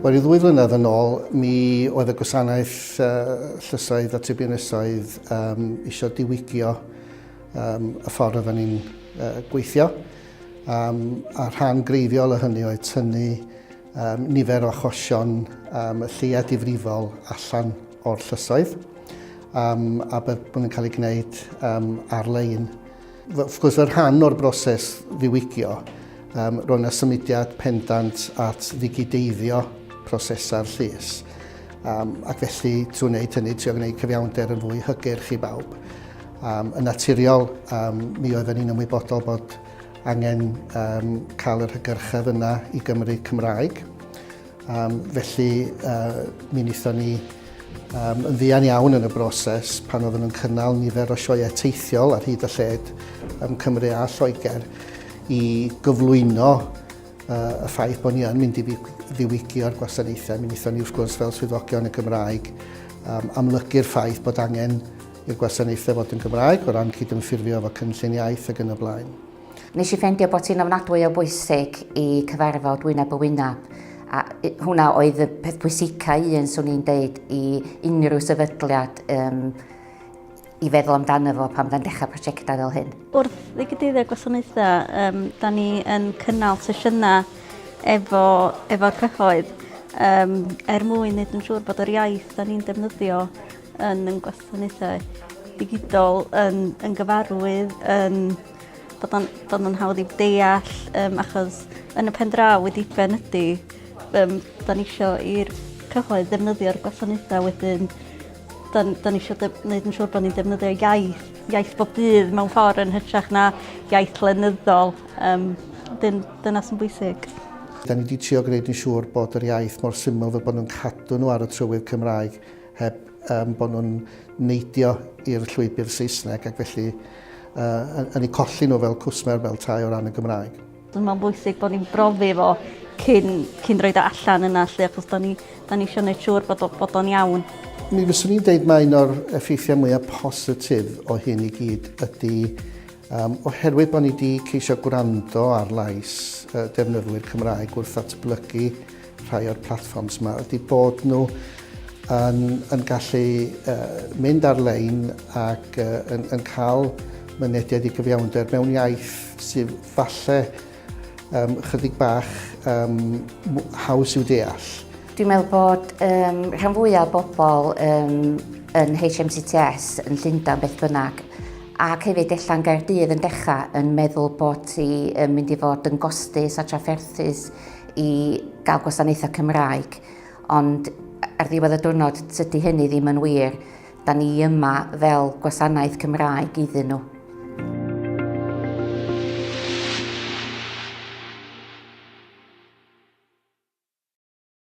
Wel, i ddwy flynedd yn ôl, mi oedd y gwasanaeth uh, llysoedd a tribiwnysoedd um, eisiau diwygio um, y ffordd oedden ni'n uh, gweithio. Um, a rhan greiddiol o hynny oedd tynnu um, nifer o achosion um, y lleia difrifol allan o'r llysoedd um, a bydd bod yn cael ei gwneud um, ar-lein. Wrth gwrs, fel rhan o'r broses ddiwygio, um, roedd yna symudiad pendant at ddigideiddio prosesau'r llys. Um, ac felly, trwy wneud hynny, trwy gwneud cyfiawnder yn fwy hygyrch i bawb. Um, yn naturiol, um, mi oedden ni'n ymwybodol bod angen um, cael yr hygyrchedd yna i Gymru Cymraeg. Um, felly, uh, mi wnaethon ni um, yn ddian iawn yn y broses pan oedden nhw'n cynnal nifer o sioeau teithiol ar hyd y lled ym Cymru a Lloegr i gyflwyno uh, y ffaith bod ni yn mynd i ddiwygio'r gwasanaethau. Mi wnaethon ni, wrth gwrs, fel swyddogion y Gymraeg, um, amlygu'r ffaith bod angen i'r gwasanaethau fod yn Gymraeg o ran cydymffurfio efo cynllun iaith ac yn y blaen. Nes i ffendio bod hi'n ofnadwy o bwysig i cyfarfod wyneb y wyneb a hwnna oedd y peth pwysica un swn i'n deud i unrhyw sefydliad um, i feddwl amdano fo pan fydda'n dechrau prosiectau fel hyn. Wrth ddigydyddio gwasanaethau, um, da ni yn cynnal sesiynau efo, efo'r cyhoedd um, er mwyn wneud yn siŵr bod yr iaith da ni'n defnyddio yn yn gwasanaethau digidol yn, yn gyfarwydd yn bod o'n, bod o'n hawdd i'w deall um, achos yn y pen draw wedi ben ydy um, da ni eisiau i'r cyhoedd ddefnyddio'r gwasanaethau wedyn da, da ni eisiau gwneud yn siŵr bod ni'n defnyddio iaith, iaith bob dydd mewn ffordd yn hytrach na iaith lenyddol. Um, dyn, dyna sy'n bwysig. Da ni wedi trio gwneud yn siŵr bod yr iaith mor syml fel bod nhw'n cadw nhw ar y trywydd Cymraeg heb um, bod nhw'n neidio i'r llwybr Saesneg ac felly uh, yn ei colli nhw fel cwsmer fel tai o ran y Gymraeg. Dwi'n meddwl bwysig bod ni'n brofi fo cyn, cyn roed o allan yna lle, achos da ni, da ni eisiau gwneud siŵr bod, bod o'n iawn. Mi fyswn i'n deud mae un o'r effeithiau mwyaf positif o hyn i gyd ydy Um, oherwydd bod ni wedi ceisio gwrando ar lais uh, defnyddwyr Cymraeg wrth atblygu rhai o'r platforms yma, ydy bod nhw yn, yn gallu uh, mynd ar-lein ac uh, yn, yn cael mynediad i gyfiawnder mewn iaith sydd falle um, chydig bach um, haws i'w deall. Dwi'n meddwl bod um, rhan fwyaf o bobl um, yn HMCTS yn Llundain beth bynnag ac hefyd ella'n Gaerdydd yn dechrau yn meddwl bod ti yn mynd i fod yn gostus a trafferthus i gael gwasanaethau Cymraeg. Ond ar ddiwedd y diwrnod, tydi hynny ddim yn wir. Da ni yma fel gwasanaeth Cymraeg iddyn nhw.